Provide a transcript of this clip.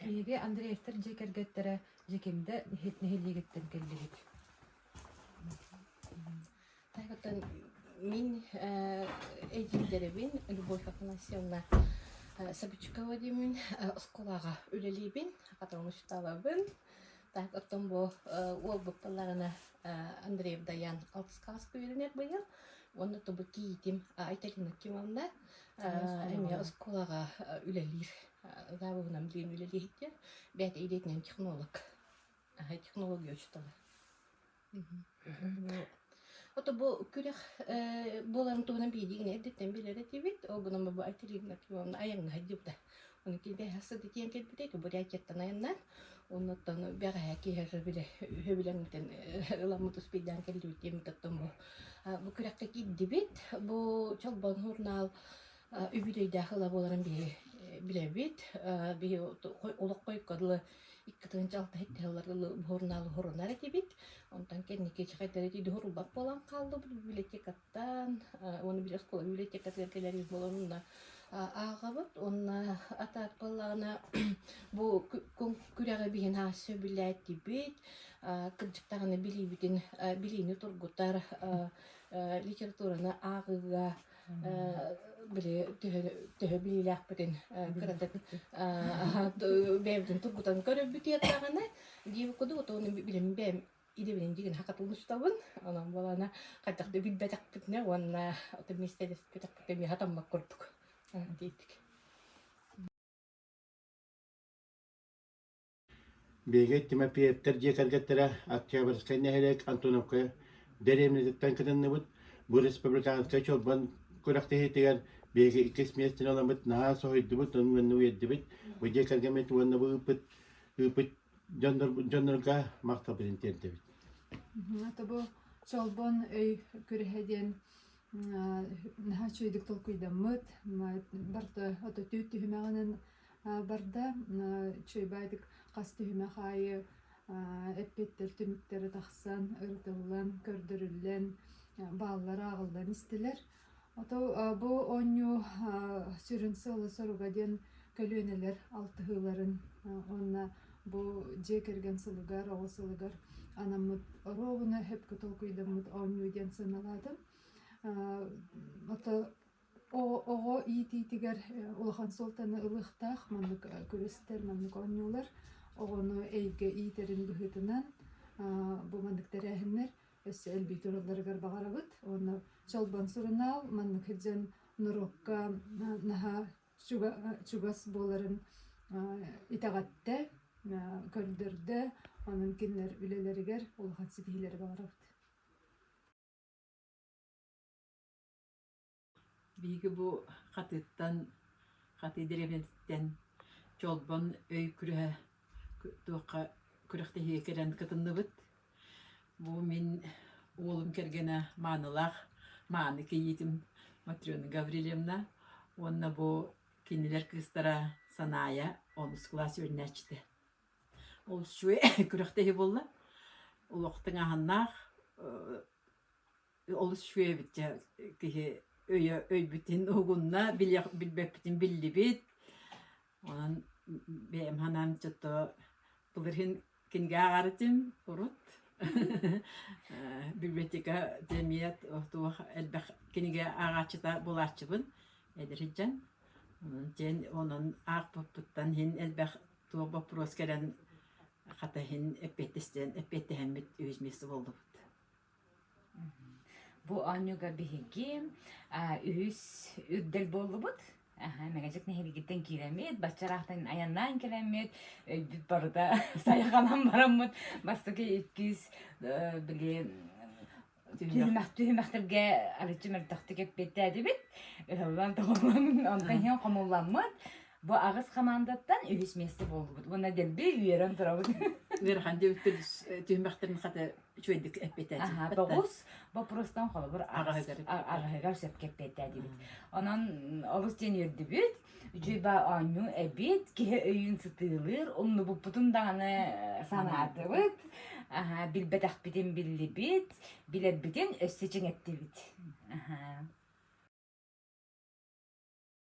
Биһиги Андреевтар дьиэ кэргэттэрэ Дьэкиндэ нэһилиэгиттэн кэллибит. Таһыттан мин эдьиийдэрбин Любовь Афанасьевна Собичука Владимировна оскуолаҕа үлэлиибин, потом учиталабын. Так оттон бу уолбут тылларына Андреев Даян алтыскаласка үөрэнэр быйыл. Уонна тобу киитим Айталина Кимовна эмиэ оскуолаҕа үлэлиир заавугунам диэн үлэлииһиттиэр бээтэ идетинэн технолог аһа технология учутала ото бу күрэх буоларын туһунан биһиги гин эрдиттэн билэр этибит огному бы атеривна айаңга хаддыбыта Килбэһэ сыдытиэн кэлбитэ ити бурятияттан айаннаан оннуттан бэҕэһээ киһи били өбүлэҥмитин ыламмыт успейдаан кэллибит диэммит оттон бу бу күрэххэ киирдибит бу Чолбон журнал үбүлүөйдээх ыла буоларын биһи билэбит биһи олох койкодылы иккитин жалтаһыттыһалларылы журнал хурунар этибит онтон кэнники чахайдары тиди хурулбат буолан хааллыбыт библиотекаттан Таан уонна биир оскуола библиотекатыгар кэлэн буоларын уонна ааҕабыт уонна атаат буоллаҕына бу күрэҕи биһин аас сөбүлээтибит кырдьыктаҕына билиибитин билиини тургутар литератураны ааҕыыга били төһө төһө билиилээхпитин кыратык бэйэбитин тургутан көрөрбүт диэтэҕинэ диэбит курдук уоту билим бэйэм Идэбинин дигин хака тулустабын, онон буолана хатах да билбэтэхпитинэ уонна отон миэстэлэспэтэхпитинэ миэхэ таммак курдук диэтик. Биһиги Тимофеевтар дьиэ кэргэттэрэ Октябрьскай нэһилиэк Антоновка дэриэбинэтиттэн кытынныбыт. Бу республиканскай чорбон күрэхтэһиитигэр биһиги иккис миэстэни ылабыт, наһаа соһуйдубут, онно уйэрдибит. Бу дьиэ кэргэммит уонна бу ыыппыт ыыппыт дьоннорбут дьоннорго махталбытын тиэрдэбит Ата бу Чолбон өй күрэһэ диэн наһаа үчүгэйдик толкуйдаммыт барыта ото түүт түһүмэҕинэн барда үчүгэйдик хас түһүмэх аайы эппиэттэр түмүктэрэ тахсан ырытыллан көрдөрүллэн бааллара аҕаллан истилэр Ото бу оонньуу сүрүн сыала-соруга диэн көлүөнэлэр алтыһыыларын уонна бу дьиэ кэргэн сылыгар, оҕо сылыгар анаммыт оруобуна сөпкө толкуйдаммыт оонньуу диэн сыаналаатым. Ото оҕо иитиитигэр улахан суолтаны ылыахтаах маннык күрэстэр, маннык оонньуулар оҕону эйгэ иитэрин быһыытынан бу маннык тэрээһиннэр өссө өлбүт урулларыгар баҕарабыт уонна чолбон сурунаал маннык дьон норуокка наһаа чугас буоларын итэҕэттэ көрдөрдө онон кинилэр үлэлэригэр улахан ситиһиилэри баҕарабыт Биһиги бу Хатыыттан, Хатыы дэриэбинэтиттэн Чолбон өй күрэһэ туохха күрэхтэһиигэ кэлэн кытынныбыт. Бу мин уолум кэргэнэ маанылаах мааны кийиитим Матрена Гаврильевна уонна бу кинилэр кыыстара Санаайа онус кылаас үөрэнээччитэ. Ол үчүгэй күрэхтэһии буолла. Олохтон аһыннаах олус үчүгэй эбит дьэ киһи өйө өйбүтүн угунна билиэх билбэппитин биллибит онон бэйэм санаан чото былырыын кинигэ ааҕарытым урут библиотека эмиэ туох элбэх кинигэ ааҕааччыта булааччыбын эдиридьэн онон диэн онон аахпыппыттан иһин элбэх туох боппуруос кэлэн хата иһин эппиэттистэн эппиэттэһэммит үһүс место болдубут Бу оонньууга биһиги үһүс үрдэл буоллубут. Мэгэдьик нэһилиэгиттэн киирэммит, бачча ыраахтан айаннаан кэлэммит, өйбүт барыта сайҕанан бараммыт бастакы иккис били түһүмэхтэргэ арыччы мөлтөхтүк эппиэттээтибит. Ыһыллан тоҕуллан онтон иһин хомулламмыт. Бу аҕыс хамаандаттан үһүс месте буолбут. Уонна дэлби үөрэн турабыт. Ыарахан дебиттер түһмэхтерин хата үчүгэйдик эппитэ. Аха, тоҕус боппурустан холобур аҕаһыгар сөпкө эппэтэ дибит. Онон олус диэн үрдүбүт, дьиба оонньуу эбит, киһи өйүн сытыылыыр, умнубуппутун даҕаны санаатыбыт, аха, билбэтэхпитин биллибит, билэрбитин өссө чиҥэттибит. Аха.